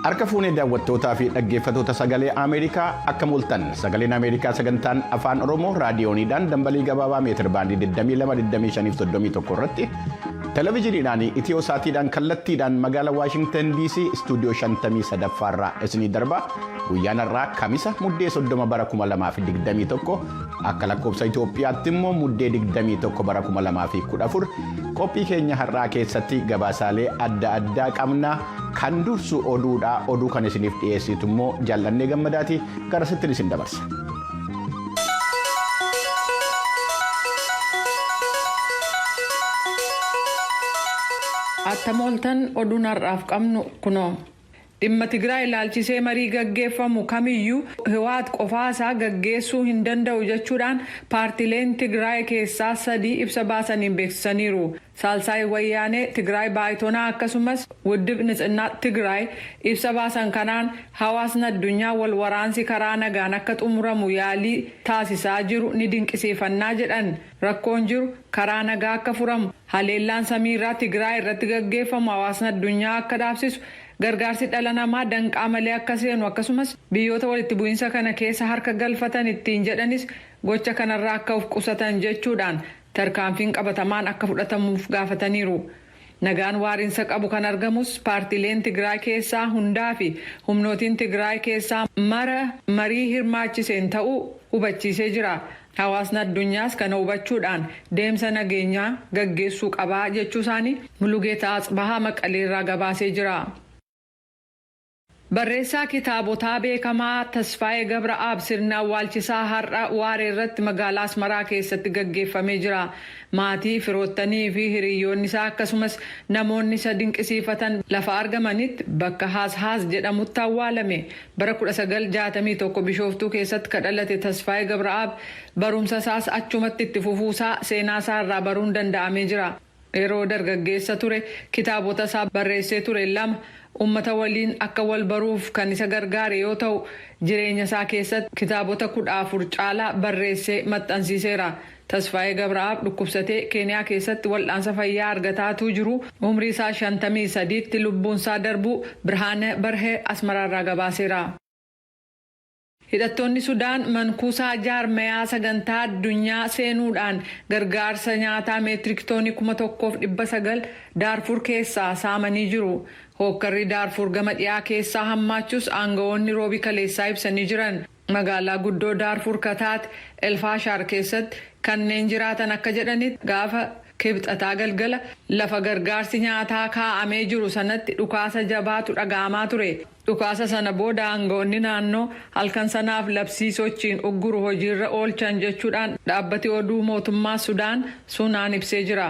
Harka fuunee daawwattootaa fi dhaggeeffatoota sagalee Ameerikaa akka mul'atan sagaleen Ameerikaa sagantaan afaan Oromoo raadiyooniidhaan dambalii gabaabaa meetir baandii 22,25,31 irratti televezyiiniidhaan itiyoo saatiidhaan kallattiidhaan magaalaa Waashingtan DC istuudiyoo 53 irraa isinii darbaa Guyyaan har'aa Kamisa Muddee 30 bara 2021 akka lakkoofsa Itoophiyaatti immoo Muddee 21 bara 2014 qophii keenya har'aa keessatti gabaasaalee adda addaa qabna kan dursu oduudha oduu kan isiniif dhiyeessitu immoo jaallannee gammadaati gara sittin isin dabarsa. Attam ooltan oduun har'aaf qabnu kunoo. Dhimma Tigraay ilaalchisee marii gaggeeffamu kamiyyuu Hiwaat qofaa isaa gaggeessuu hin danda'u jechuudhaan paartileen Tigraay keessaa sadii ibsa baasaniin beeksisaniiru. Saalsaay Wayyaanee Tigraay Baaytonaa akkasumas Wuddib Nitsinnaa Tigraay ibsa baasan kanaan hawaasni addunyaa wal waraansi karaa nagaan akka xumuramu yaalii taasisaa jiru ni dinqisiifannaa jedhan. Rakkoon jiru karaa nagaa akka furamu, haleellaan samiirraa Tigraay irratti gaggeeffamu hawaasni addunyaa akka dhaabsisu, gargaarsi dhala namaa danqaa malee akka seenu akkasumas biyyoota walitti bu'iinsa kana keessa harka galfatan ittiin jedhanis gocha kanarraa akka of qusatan jechuudhaan tarkaanfiin qabatamaan akka fudhatamuuf gaafataniiru. Nagaan waarinsa qabu kan argamus paartiileen Tigraay keessaa hundaa fi humnootiin Tigraay keessaa mara marii hirmaachiseen ta'uu hubachiisee jira. Hawaasni addunyaas kana hubachuudhaan deemsa nageenyaa gaggeessuu qaba jechuusaanii Mulugeetaa Atsbahaa Maqaleerraa gabaasee jira. Barreessaa kitaabotaa beekamaa Tasfaayee Gabra'aab sirni awwaalchisaa har'a waareerratti magaalaa Asmaraa keessatti gaggeeffamee jira. Maatii, firoottanii fi hiriyyoonni isaa akkasumas namoonni isa dinqisiifatan lafa argamanitti bakka Haas Haas jedhamutti awwaalame. Bara 1961 Bishooftuu keessatti ka dhalate Tasfaayee Gabra'aab barumsa isaas achumatti itti fufuu isaa seenaa isaa irraa baruun danda'amee jira. Yeroo dargaggeessa ture kitaabota isaa barreessee ture lama ummata waliin akka wal baruuf kan isa gargaare yoo ta'u, jireenya isaa keessatti kitaabota 14 caalaa barreessee maxxansiiseera. Tasfaayee Gabra'aab dhukkubsatee Keeniyaa keessatti wal'aansa fayyaa argataa utuu jiruu umrii isaa 53tti lubbuun isaa darbuu Birhaaneh Barhee Asmaraarraa gabaaseera. Hidhattoonni Sudaan mankuusaa jaarmayaa sagantaa addunyaa seenuudhaan gargaarsa nyaataa meetirik toonii kuma tokkoof dhibba sagal Daarfuur keessaa saamanii jiru. Hookkarri Daarfuur gama dhiyaa keessaa hammaachuus aangawoonni Roobii kaleessaa ibsanii jiran. Magaalaa guddoo Daarfuur ka taate El Faashaar keessatti kanneen jiraatan akka jedhanitti gaafa Kibxataa galgala lafa gargaarsi nyaataa kaa'amee jiru sanatti dhukaasa jabaatu dhaga'amaa ture. Dhukaasa sana booda aanga'oonni naannoo halkan sanaaf labsii sochiin ugguru hojiirra oolchan jechuudhaan dhaabbati oduu mootummaa Sudaan Sunaan ibsee jira.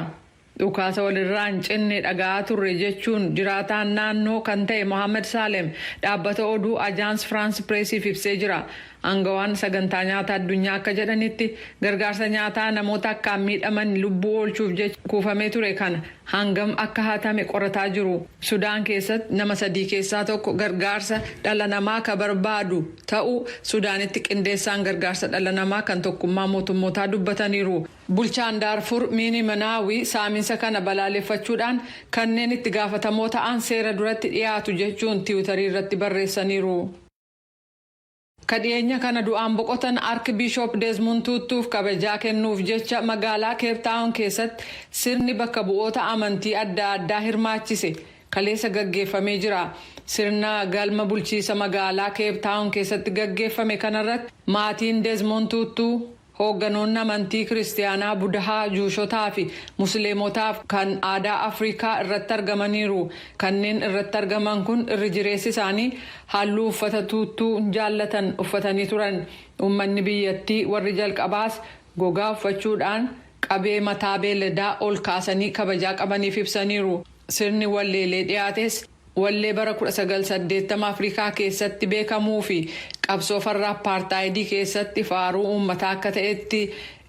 Dhukaasa walirraa hin cinne dhaga'aa turre jechuun jiraataan naannoo kan ta'e Mohaammed Saalem dhaabbata oduu Ajaans Firaans Pireesiif ibsee jira. Aangawaan Sagantaa Nyaata Addunyaa akka jedhanitti gargaarsa nyaataa namoota akkaan miidhaman lubbuu oolchuuf jecha kuufamee ture kana hangam akka hatame qorataa jiru. Sudaan keessatti nama sadii keessaa tokko gargaarsa dhala namaa ka barbaadu ta'uu Sudaanitti qindeessaan gargaarsa dhala namaa kan tokkummaa mootummootaa dubbataniiru. Bulchaan Daarfur Miini Manaawi saaminsa kana balaaleffachuudhaan kanneen itti gaafatamoo ta'an seera duratti dhiyaatu jechuun tiwutarii irratti barreessaniiru. Ka dhiyeenya kana du'aan boqotan Ark Biishop Desmund Tuuttuuf kabajaa kennuuf jecha magaalaa Keep Taawon keessatti sirni bakka bu'oota amantii adda addaa hirmaachise kaleessa gaggeeffamee jira. Sirna galma bulchiisa magaalaa Keep Taawon keessatti gaggeeffame kanarratti maatiin Desmond Tuuttuu, Hoogganoonni amantii Kiristiyaanaa Budahaa, Juushotaa fi Musliimotaaf kan aadaa Afrikaa irratti argamaniiru. Kanneen irratti argaman kun irri jireessi isaanii halluu uffata tuuttuu jaallatan uffatanii turan. Uummanni biyyattii warri jalqabaas gogaa uffachuudhaan qabee mataa beeladaa ol kaasanii kabajaa qabaniif ibsaniiru. Sirni walleelee dhiyaates Wallee bara 1980 Afrikaa keessatti beekamuu fi qabsoo farra appaartaayidii keessatti faaruu uummataa akka ta'etti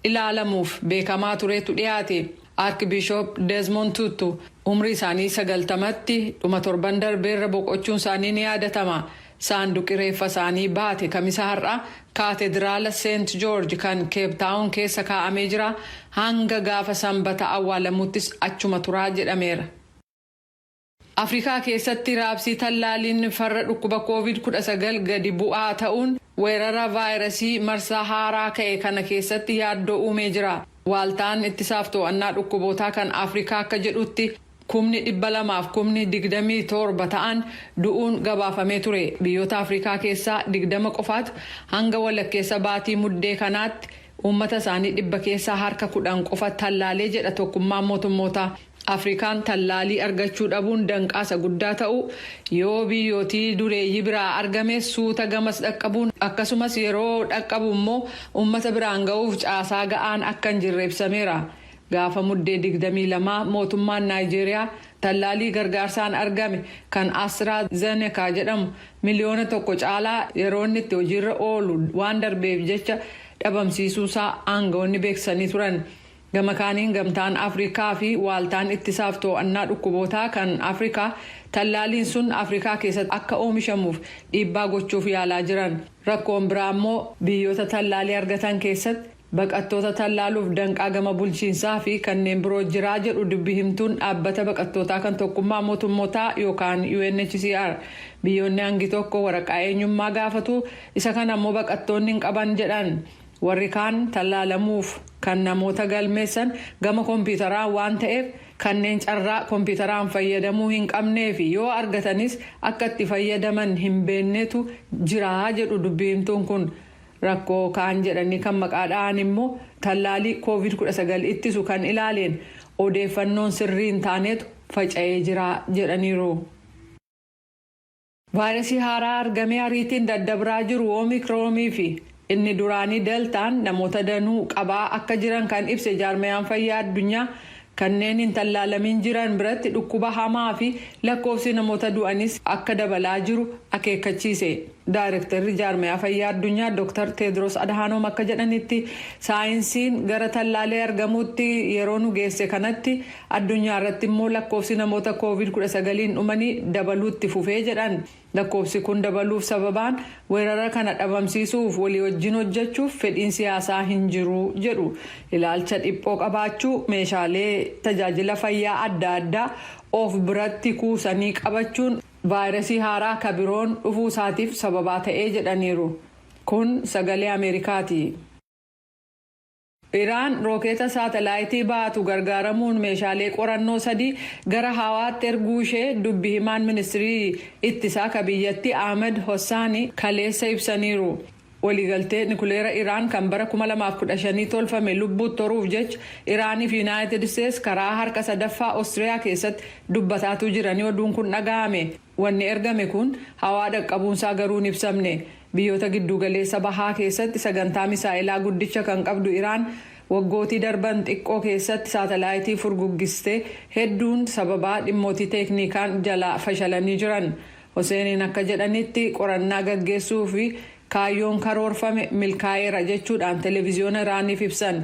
ilaalamuuf beekamaa turetu dhiyaate. Arkibishoop Desmond Tutu umrii isaanii 90tti dhuma torban darbeerra boqochuun isaanii ni yaadatama. Saanduqi reeffa isaanii baate Kamisa har'aa Kaatediraala Seent Joorj kan Keeptaawon keessa kaa'amee jira, hanga gaafa Sanbata awwaalamuuttis achuma tura jedhameera. Afrikaa keessatti raabsii tallaaliin farra dhukkuba Covid 19 gadi bu'aa ta'uun weerara vaayirasii marsaa haaraa ka'e kana keessatti yaaddoo uumee jira. Waaltaan ittisaaf too'annaa dhukkubootaa kan Afrikaa akka jedhutti kumni 200 fi kumni 27 ta'an du'uun gabaafamee ture. Biyyoota Afrikaa keessaa 20 qofaatu hanga walakkeessa baatii Muddee kanaatti uummata isaanii dhibba keessaa harka 10 qofa tallaalee jedha Tokkummaan Mootummootaa. Afrikaan tallaalii argachuu dhabuun danqaa isa guddaa ta'uu, yoo biyyootii dureeyyii biraa argames suuta gamas dhaqqabuun akkasumas yeroo dhaqqabu immoo uummata biraan ga'uuf caasaa ga'aan akka hin jirre ibsameera. Gaafa Muddee 22 mootummaan Naayijeeriyaa tallaalii gargaarsaan argame kan Astra Zeneca jedhamu miliyoona tokko caalaa yeroo inni itti hojiirra oolu waan darbeef jecha dhabamsiisuusaa aanga'oonni beeksisanii turan. Gama kaaniin Gamtaan Afrikaa fi Waaltaan Ittisaaf Too'annaa Dhukkubootaa kan Afrikaa tallaaliin sun Afrikaa keessatti akka oomishamuuf dhiibbaa gochuuf yaalaa jiran. Rakkoon biraa ammoo biyyoota tallaalii argatan keessatti baqattoota tallaaluuf danqaa gama bulchiinsaa fi kanneen biroo jira jedhu dubbi himtuun Dhaabbata Baqattootaa kan Tokkummaa Mootummootaa yookaan UNHCR. Biyyoonni hangi tokko waraqaa eenyummaa gaafatu, isa kana ammoo baqattoonni hin qaban jedhan. Warri kaan tallaalamuuf kan namoota galmeessan gama kompiitaraan waan ta'eef kanneen carraa kompiitaraan fayyadamuu hin qabnee fi yoo argatanis akka itti fayyadaman hin beennetu jira jedhu dubbi himtuun kun. Rakkoo kaan jedhanii kan maqaa dha'an immoo tallaalii Covid 19 ittisu kan ilaaleen odeeffannoon sirrii hin taanetu faca'ee jira jedhaniiru. Vaayirasii haaraa argamee ariitiin daddabraa jiru Omicron fi inni duraanii Deltaan namoota danuu qabaa akka jiran kan ibse Jaarmayaan Fayyaa Addunyaa, kanneen hin tallaalamiin jiran biratti dhukkuba hamaa fi lakkoofsi namoota du'aniis akka dabalaa jiru akeekkachiise. Daayrektarri Jaarmayaa Fayyaa Addunyaa Dr. Teedroos Adhaanoom akka jedhanitti, saayinsiin gara tallaalii argamuutti yeroo nu geesse kanatti, Addunyaa irratti immoo lakkoofsi namoota Covid 19n dhumanii dabaluu itti fufe jedhan. Lakkoofsi kun dabaluuf sababaan weerara kana dhabamsiisuuf walii wajjin hojjechuuf fedhiin siyaasaa hin jiru jedhu. Ilaalcha dhiphoo qabaachuu, meeshaalee tajaajila fayyaa adda addaa of biratti kuusanii qabachuun vaayirasii haaraa ka biroon dhufuu isaatiif sababaa ta'e jedhaniiru. Kun sagalee Ameerikaati. Iraan rookeeta saatalaayitii baatu gargaaramuun meeshaalee qorannoo sadii gara hawaatti erguu ishee dubbi himaan ministirii ittisaa ka biyyattii Ahmed Hossaani kaleessa ibsaniiru. Waliigaltee nikuleera Iraan kan bara 2015 tolfame lubbuutt horuuf jecha Iraanii fi Yunaayitid Isteets karaa harka sadaffaa Ostiriyaa keessatti dubbataatuu jiranii oduun kun dhaga'ame. Wanni ergame kun hawaa dhaqqabuunsaa garuu hin ibsamne. Biyyoota Gidduugaleessa Bahaa keessatti sagantaa misaa'elaa guddicha kan qabdu Iraan, waggootii darban xiqqoo keessatti saatalaayitii furguggiste hedduun sababaa dhimmootii teekniikaan jalaa fashalanii jiran. Hoseeniin akka jedhanitti qorannaa gaggeessuuf kaayyoon karoorfame milkaa'eera jechuudhaan televiziyoona Iraaniif ibsan.